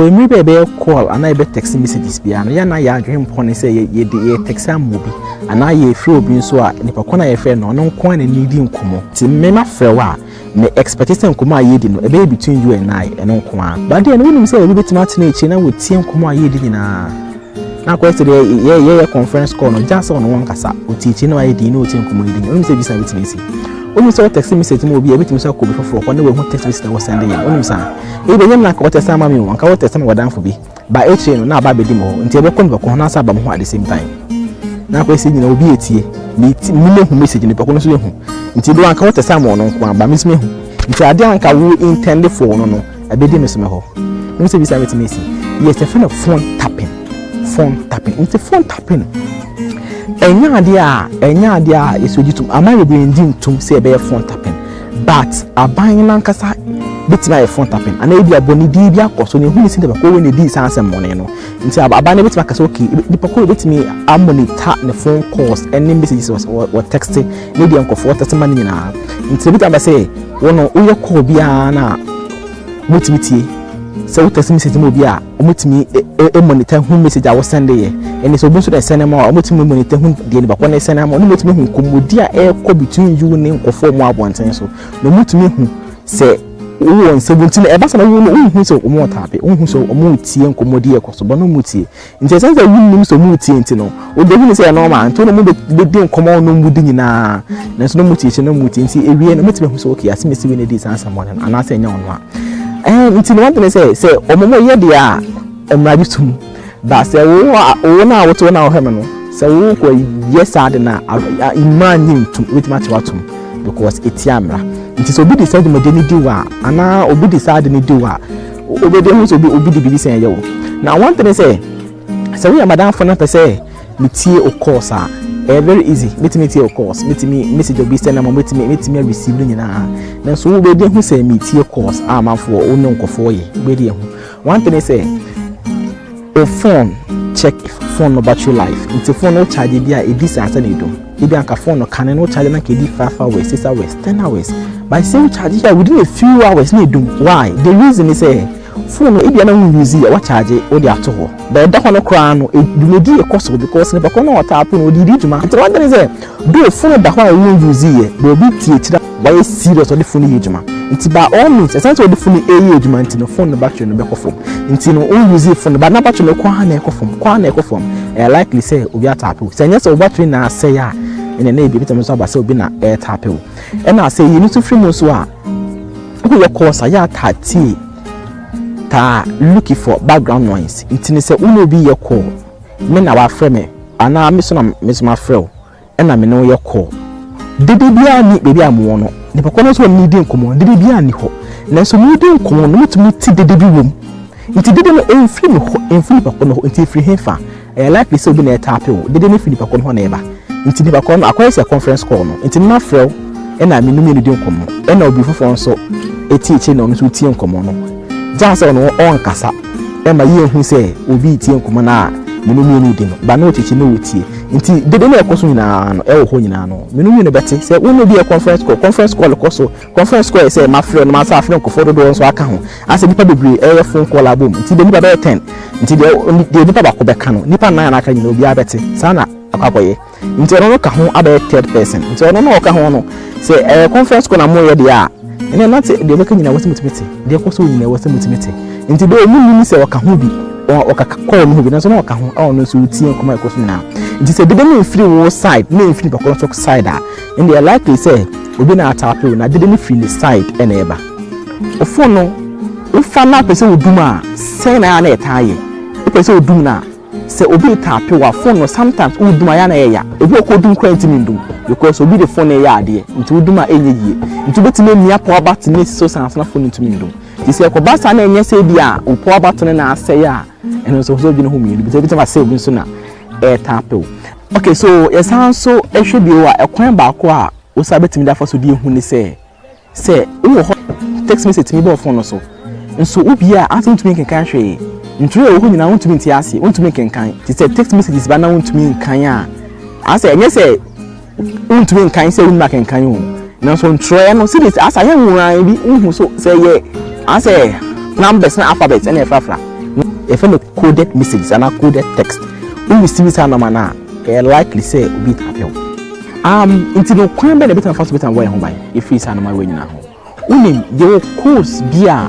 Wɔ mmere bi a yɛbɛyɛ call anaa yɛbɛ text messages biara no, yɛn na yɛn adwene mpɔ ne sɛ yɛde yɛ text ama obi anaa yɛfrɛ obi nso a nipa kɔn a yɛfrɛ no ɔno nko a na ne di nkɔmɔ. Ti me ma frɛ wo a, me expect sɛ nkɔmɔ a yɛdi no ɛbɛyɛ between you and I, ɛno nko ara. But then wonim sɛ obi betumi atena akyire na wɔtie nkɔmɔ a yɛdi nyinaa. Na akɔyɛ sɛ deɛ yɛ yɛyɛ conference call no gya sɛ ɔno wankasa ɔtiakyiri na wayɛ din na ɔtie nkɔmmɔ yi din ɔnim sɛ bisa bɛtumi asi wonim sɛ wɔtɛkse message mu obi a ɛbɛtumi sɛ akɔ obi foforɔ hɔ na wahu text message na wɔsɛnde yɛ wonim saa ɛyi bɛnyam na anka wɔtɛkse ama me o anka wɔtɛkse ma wɔdanfo bi ba akyire no na aba abɛdi mu hɔ nti ɛbɛkɔ nipa ko ho na asa aba mu hɔ at the same time na akɔyɛ sɛ nyina obi atie mene hu message nipa ko no so yɛhu nti do anka wɔtɛkse ama ɔno nko aba mesumi hu nti adeɛ anka wo intended for no no Ɛbɛdi me so me hɔ. Wọ́n sɛ bisa mi ti mi si. Yes, yɛfrɛ no phone tapping. Phone tapping. Nti phone tapping. Ɛnyɛ adeɛ a ɛnyɛ adeɛ a yɛsɛ ogye tom. Aman bebree ngye ntom sɛ ɛbɛyɛ phone tapping. But aban no ankasa bɛtumi ayɛ phone tapping. Anaa ebi abɔnedin bi akɔ so na ehu ne sɛ nipa ko wei na edi saa asɛm mɔne no. Nti aban no bɛtumi akasa okay nipa ko wei bɛtumi ammonita ne phone calls ɛne messages wɔ texting. Ne deɛ nkurɔfoɔ tete ma no nyinaa nti ebi taba sɛ wɔn no woyɛ kɔɔ biara na wɔtumi tie sɛ wo tɛsi message ma obi a wɔtumi monitor hu message a wɔsɛnde yɛ ɛnna sɛ obi nso na ɛsɛn ma a wɔtumi monitor hu deɛ nipa kɔ na ɛsɛn ama wɔn wɔtumi hu nkɔmmɔdi a ɛrekɔ between you ne nkɔfoɔ mu abɔnten so na wɔtumi hu sɛ wowɔ nsɛm nti na ɛba sɛ na wɔn wɔn hu sɛ wɔn wɔ taape wɔn hu sɛ wɔn tie nkɔmmɔdi ɛkɔ so bɔ na wɔn tie Nti ɛsiane sɛ wonnim sɛ wɔretie nti no, wode hunu sɛ ɛyɛ normal. Nti wone wɔn bɛdi nkɔmmɔ a wɔn di nyinaa, nanso na wɔtie kyɛ na wɔtie. Nti awie no, mɛtumi ahu sɛ okay, asɛm ɛsi wei na ɛdi saa nsɛmmɔne no, anaasɛ ɛnyɛ ɔno a. Ɛɛ nti no wɔdene sɛ sɛ wɔn yɛ deɛ a, mmara gye tom. Ba sɛ wo wo no a wote wo no a wohwɛ me no, sɛ wokɔ yɛ saa de no a, mmara nye ntom, ɛbɛtumi atew atom because ɛtia mmara. Nti sɛ obi de saa dwumadie no di wo a, anaa obi de saa de no di wo a, Wobɛdi ahu sɛ obi obi de biribi sɛn ɛyɛ wo. Na one thing ne sɛ, sɛ woyɛ m'adamfo na pɛ sɛ metie wo calls a, ɛyɛ very easy. Mɛtumi atie wo calls, mɛtumi message obi send ama mɛtumi mɛtumi a receive no nyinaa. Nanso wobɛdi ahu sɛ metie calls a amanfoɔ wo ne nkɔfoɔ yɛ. Wobɛdi ahu. One thing ne sɛ. Wo fon check fon no battery life nti fon no wo charge bi a edi saa sɛ na edum ebi anka fon no kane no wo charge na ka edi five hours six hours ten hours but sɛ wo charge yɛ within a few hours na edum why the reason is sɛ fon no ebi na wo use yɛ wa charge wo de ato hɔ but ɛda hɔ no koraa no dwumadi yɛ kɔ so because nipa kɔ na ɔtaa po no ɔde di dwuma nti wadane sɛ do fon da hɔ a wo use yɛ bɛ obi tie kyerɛ Wayɛ serious ɔde phone no yɛ adwuma nti by all means ɛsan sɛ ɔde phone no ɛyɛ adwuma nti no phone no battery no bɛkɔ fam nti no o use phone no but na battery no kɔ ha na ɛkɔ fam kɔ ha na ɛkɔ fam ɛyɛ likely sɛ obi atape o sɛ ɛnyɛ sɛ o battery na asɛe a ɛna na ebi ebi tɛmɛ nso aba sɛ obi na ɛtape o ɛna sɛ yɛn nso firi mu nso a woyɛ kɔɔsa yɛ atatie taa looking for background noise nti no sɛ wo na obi yɛ kɔɔ me na wafrɛ me anaa me so na me so mafrɛ o. ɛna me ne wo yɛ call. Dede biara nni baabi a mowɔ no, nnipa korɔ no nso a me ne no redi nkɔmmɔ no, dede biara nni hɔ. Nanso meredi nkɔmmɔ no, metumi te dede bi wom. Nti dede no, ɛmfiri me hɔ, ɛmfiri nnipa korɔ no hɔ. Nti ɛfiri hefa? Ɛyɛ likely sɛ obi na ɛretape wo. Dede no firi nnipa korɔ no hɔ na ɛba. Nti nnipa korɔ no, akɔyɛ sɛ conference call no. Nti me mafrɛ wo, ɛna me ne mmienu di nkɔmmɔ. Ɛna obi foforɔ nso ɛti akyire na ɔno nso retie nkɔmmɔ no. Gyaa sɛ ɔno ɔnkasa. Ɛma yehu sɛ obi retie nkɔmmɔ no a me no mmienu redi no, ba na ɔkyekye na ɔtie. Enti dede no a ɛkɔ so nyinaa no, ɛwɔ hɔ nyinaa no, me no mmienu bɛte. Sɛ wo ne obi yɛ conference call, conference call kɔ so. Conference call yɛ sɛ mafrɛ no, masan afrɛ nkurɔfoɔ dodoɔ nso aka ho. Asɛ nnipa bebree reyɛ phone call abom, enti bɛyɛ nnipa bɛyɛ ten. Enti deɛ nnipa baako bɛka no, nnipa nnan a na aka nyinaa obiara bɛte. Saa na akɔ akɔyɛ. nti ɔno no ka ho abɛyɛ third person nti ɔno no ɔka ho no sɛ ɛyɛ conference call na mo yɛ deɛ a ɛnna na te deɛ ɔbɛka nyinaa wɔsɛ mo tumi te deɛ ɛkɔ so nyinaa wɔsɛ mo tumi te nti deɛ ɔmo nim sɛ ɔka ho bi ɔka call no ho bi nanso na ɔka ho a ɔno nso retie nkɔmɔ a ɛkɔ so nyinaa nti sɛ dede no mfiri wo side na mfiri bakɔ nso side a ɛnna ɛyɛ likely sɛ obi na ataape wo na dede no firi ne side ɛna ɛba ofo no wofa no apɛ sɛ wodum a sɛn na ɛyɛ na ɛtaa yɛ wopɛ sɛ wodum no a Sɛ obi retaape wo a phone no sometimes wo dum a ɛyɛ a na ɛyɛ ya. Ebi wɔ hɔ koraa odum koraa ntumi ndum because obi de phone no reyɛ adeɛ nti wodum a ɛnyɛ yie. Nti wobɛtumi amia power button no asi so saa nso na phone no ntumi ndum. Nti sɛ ɛkɔba saa na ɛnyɛ sɛ ebia wo power button no na asɛe a ɛno nso ɛwɔ sɛ wodwene ho mmienu because ebitumi aba sɛ obi nso na ɛretaape wo. Okay so yɛsan nso hwɛ bio a ɛkwan baako a wo nsa bɛtumi de afa so de ahu ne sɛ Sɛ wowɔ hɔ a, text message tumi ba wo fon no so. Nso wobue a, ansa wuntumi nkenkan hwee. Ntwerɛ a ɛwɔ hɔ nyinaa wuntumi nte aseɛ, wuntumi nkenkan. Enti sɛ text messages ba na wuntumi nkan a, asɛ ɛnyɛ sɛ wuntumi nkan sɛ wonnim akenkan o. Nanso ntwerɛ no, sɛdeɛ ɛsi asa yɛ nwonwa bi, wohu so sɛ ɛyɛ asɛ numbers ne alphabets na ɛfrafra. Yɛfrɛ no coded messages anaa coded text. Wo receive saa nɔma no a, Ɛyɛ likely sɛ obi apɛ wo. Um, nti no kwan bɛ na ebetumi afa so betumi abɔ yɛn ho ban efiri saa nneɛma wei nyinaa ho. Wonim, yɛwɔ codes bi a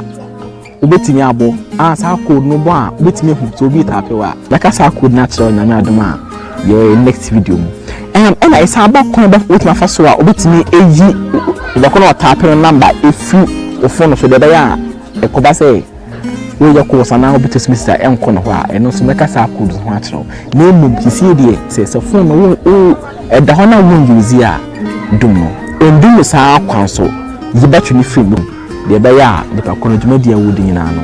wobetumi abɔ a saa code no bɔ a wobetumi ahu sɛ obi taa apɛ wo a. Mɛka saa code no akyerɛ onyame adom a yɛ next video mu. Um, ɛna ɛsan ba kwan bɛ wobetumi afa so a wobetumi eyi ɔbɛko na ɔtaa apɛ no number efiri ofon no so deɛ ɛbɛyɛ a ɛkɔba sɛ Woyɛ course anaa obi tɔ semester a ɛnkɔ ne hɔ a, ɛno nso mɛka saa codes no ho akyerɛ wo. Na mmom seesei deɛ sɛ sɛ phone no wo wo ɛda hɔ na wo use a, dum no. Ɛndu no saa ara kwa nso, yi battery no firi mu deɛ ɛbɛyɛ a nipa korɔ no dwumadie a ɔredi nyinaa no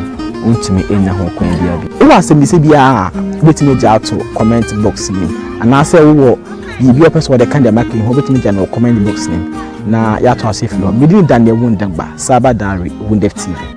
ɔntumi nnya ho kwan biara bio. Wowɔ asɛmmisa biara a, wobɛtumi agya ato comment box no mu anaasɛ wowɔ biribi a wopɛ sɛ wɔde ka deɛ maka yi ho a, wobɛtumi agya no wɔ comment box no mu na yɛatoa so afiri hɔ. Me din ne Daniel Wundagba, Cyber Diary, Wundef TV.